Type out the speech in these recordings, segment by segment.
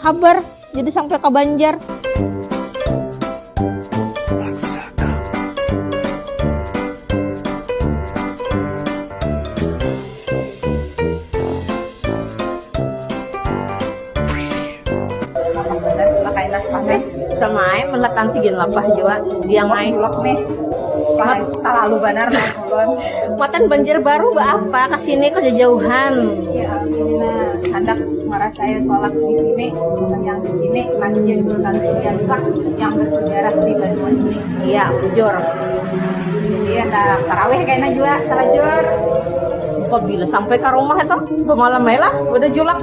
Habar jadi sampai ka Banjar. Sama ai melat antigen lapah jua diang ai. Talalu banar. Buatan Banjarbaru beapa ka sini kok jajauhan. Ya Alhamdulillah handak marasai solat di sini sumbahyang di sini Masjid Sultan Sudiarsa yang bersejarah di Banua ini. Iya bujur. Jadi handak tarawih kena jua salajur. Pabila sampai ka rumah itu bamalam ai lah udah julak.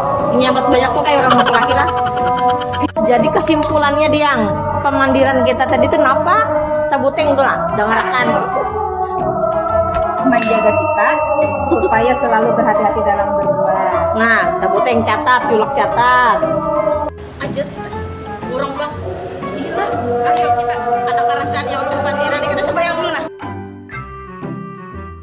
Menyambat banyak pun kaya urang laki-laki lah. Jadi kesimpulannya Diang, pemandiran kita tadi tu napa? Sabuting tu nah, dangarakan. Manjaga kita supaya selalu berhati-hati dalam berbuat. Nah, sabuting catat, julak catat. Aja kita urang bang, inilah ayo kita kada karasaan ya kalo bapandiran nih kita sembahyang dulu nah.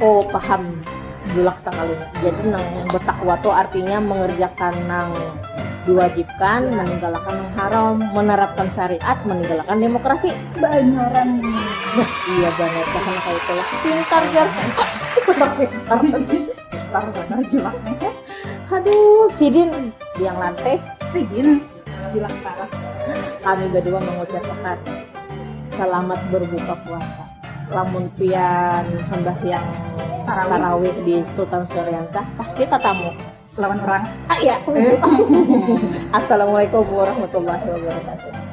Oh paham, bulak sakali. Jadi nang bertakwa tu artinya mengerjakan nang diwajibkan, meninggalkan nang haram, menerapkan syariat, meninggalkan demokrasi. Baanaran ni. Bah iya banar gasan kaya itu lah. Pintar jar. Pintar pintar banar julak ni. Haduh sidin yang lante. Sidin julak parah. Kami badua mengucapakan selamat berbuka puasa. lamun pian sambahyang tarawih di Sultan Syariansah pasti tatamu lawan orang ah ya Assalamualaikum warahmatullahi wabarakatuh